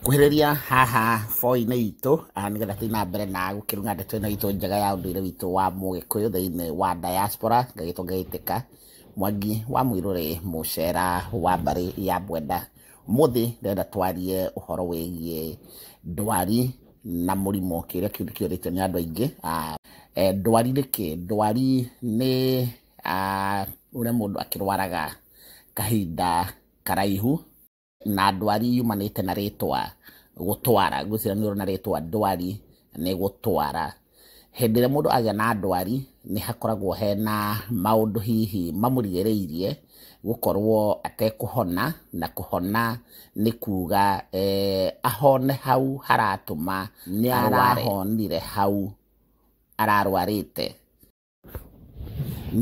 Kuhĩrĩria haha boinĩ itũ nĩgetha tũthiĩ na mbere na gũkĩruga ndeto ĩno itũ njega ya ũndũire witũ wa mũgĩkũyũ thĩinĩ wa diaspora ngagĩtwo ngagĩtĩka Mwangi wa Mũirũrĩ mũcera wa mbarĩ ya Bwenda. Ũmũthĩ ndĩrenda twarie ũhoro wĩgiĩ ndwari na mũrimũ kĩrĩa kĩu nĩ kĩũrĩtio nĩ andũ aingĩ. Eh, ndwari nĩ kĩ? Ndwari nĩ ũrĩa mũndũ akĩrwaraga kahinda karaihu na ndwari yumanĩte na rĩtwa gũtwara ngwĩciria nĩ na rĩtwa ndwari nĩ gũtwara hĩndĩ ĩrĩa mũndũ agĩa na ndwari nĩ hakoragwo hena maũndũ hihi mamũrigĩrĩirie gũkorwo atekũhona na kũhona nĩ kuga eh, ahone hau haratũma nĩ arahonire hau ararwarĩte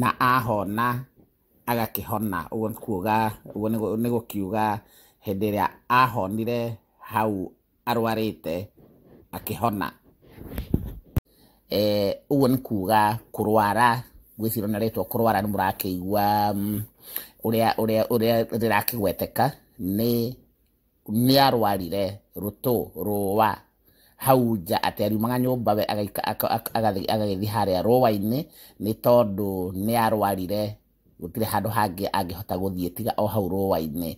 na ahona agakĩhona, ũguo nĩ kuga, ũguo nĩ gũkiuga hĩndĩ ĩrĩa ahonire hau arwarĩte akĩhona. Ũguo nĩ kuga kũrwara, ngwĩciria ona rĩtwa kũrwara nĩ mũrakĩigua ũrĩa rĩrakĩgweteka nĩ... nĩarwarire rũtũ rũũa hau nja atĩ ariumaga nyũmba we agaika- aka- aka- agathiĩ agagĩthiĩ harĩa rũũa-inĩ nĩ tondũ nĩarwarire gũtirĩ handũ hangĩ angĩhota gũthiĩ tiga o hau rũũa-inĩ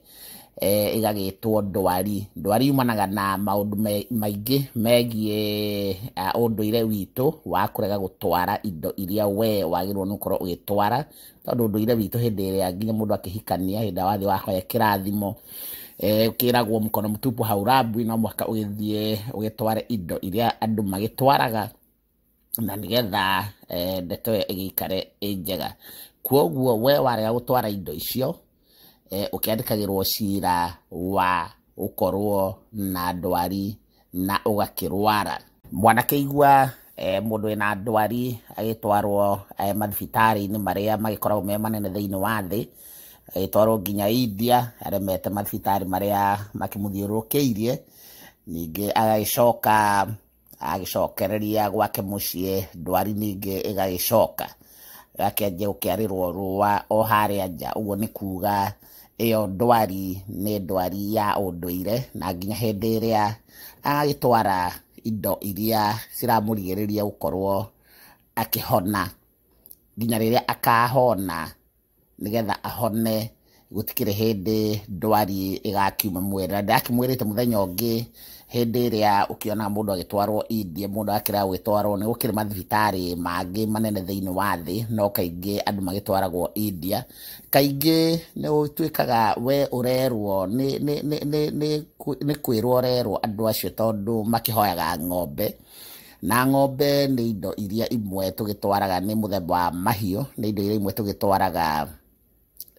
eh, ĩgagĩtwo ndwari ndwari yumanaga na maũndũ me- maingĩ megiĩ ah, ũndũire witũ wa kũrega gũtwara indo iria we wagĩrĩirwo nĩ gũkorwo ũgĩtwara tondũ ndũire witũ hĩndĩ ĩrĩa nginya mũndũ akĩhikania hĩndĩ ĩrĩa wathiĩ wahoya kĩrathimo eh, kĩragwo mũkono mũtupu hau rambu no mũhaka ũgĩthiĩ ũgĩtware indo iria andũ magĩtwaraga na nĩgetha eh, ndeto ĩyo ĩgĩikare ĩ njega kwoguo we warega gũtwara indo icio eh, ũkĩandĩkagĩrwo cira wa gũkorwo na ndwari na ũgakĩrwara. Mwanakĩigua eh, mũndũ wĩna ndwari agĩtwarwo eh, mathibitarĩ-inĩ marĩa magĩkoragwo me manene thĩinĩ wa thĩ agĩtwarwo nginya India aremete mathibitarĩ marĩa makĩmũthiũrũrũkĩirie ningĩ agagĩcoka agĩcokereria gwake mũciĩ ndwari ningĩ ĩgagĩcoka gakĩanjia gũkĩarĩrwo rũa o harĩa nja ũguo nĩ kuga ĩyo ndwari nĩ ndwari ya ũndũire na nginya hĩndĩ ĩrĩa agagĩtwara indo iria ciramũrigĩrĩria gũkorwo akĩhona nginya rĩrĩa akahona. nĩgetha ahone gũtikĩrĩ hĩndĩ ndwari ĩgakiuma muoyo na ndakĩmwĩrĩte mũthenya ũngĩ hĩndĩ ĩrĩa ũkĩona mũndũ agĩtwarwo India mũndũ akĩrega gwĩtwarwo nĩ gũkĩrĩ mathibitarĩ mangĩ manene thĩinĩ wa thĩ no kaingĩ andũ magĩtwaragwo India kaingĩ nĩ ũtuĩkaga we ũrerwo nĩ, nĩ, nĩ, nĩ, nĩ, nĩ kwĩrwo ũrerwo andũ acio tondũ makĩhoyaga ng'ombe Na ng'ombe nĩ indo iria imwe tũgĩtwaraga nĩ mũthemba wa mahiũ, nĩ indo iria imwe tũgĩtwaraga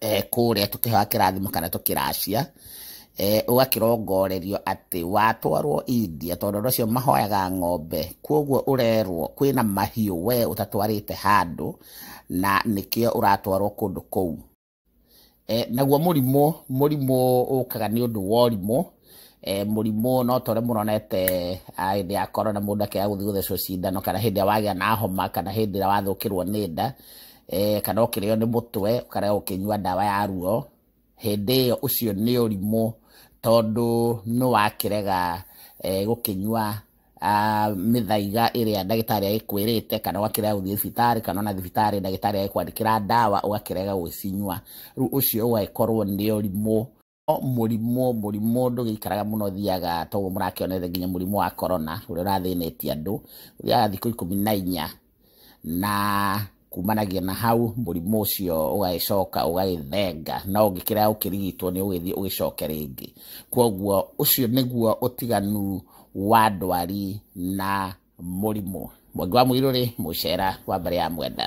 eh, kũrĩa tũkĩhoya kĩrathimo kana tũkĩracia eh, ũgakĩrongorerio atĩ watwarwo India tondũ andũ acio mahoyaga ng'ombe, kwoguo ũrerwo kwĩna mahiũ we ũtatwarĩte handũ na nĩkĩo ũratwarwo kũndũ kũu. Naguo mũrimũ, mũrimũ ũkaga nĩ ũndũ wa ũrimũ, mũrimũ no ta ũrĩa mũronete hĩndĩ ya Corona mũndũ akĩaga gũthiĩ gũthecwo cindano kana hĩndĩ ĩrĩa wagĩa na homa kana hĩndĩ ĩrĩa wathũkĩrwo nĩ nda, kana ũkĩrĩo nĩ mũtwe ũkarega gũkĩnyua ndawa ya ruo, hĩndĩ ĩyo ũcio nĩ ũrimũ tondũ nĩ wakĩrega gũkĩnyua. mĩthaiga ĩrĩa ndagĩtarĩ agĩkwĩrĩte kana ũgakĩrega gũthiĩ thibitarĩ kana ona thibitarĩ ndagĩtarĩ agĩkwandĩkĩra ndawa ũgakĩrega gũcinyua rĩu ũcio ũgagĩkorwo nĩ ũrimũ mũrimũ mũrimũ ndũgĩikaraga mũno thiaga toguo mũrakĩonete nginya mũrimũ wa korona ũrĩa ũrathĩnĩtie andũ ũthiaga thikũ ikũmi na inya na kumanagia na hau mũrimũ ũcio ũgagĩcoka ũgagĩthenga na ũngĩkĩra ũkĩrigitwo nĩ ũgĩthiĩ ũgĩcoke rĩngĩ kwoguo ũcio nĩguo ũtiganu wa ndwari na mũrimũ mwangi wa mũirũrĩ mũcera wa mbere ya mwenda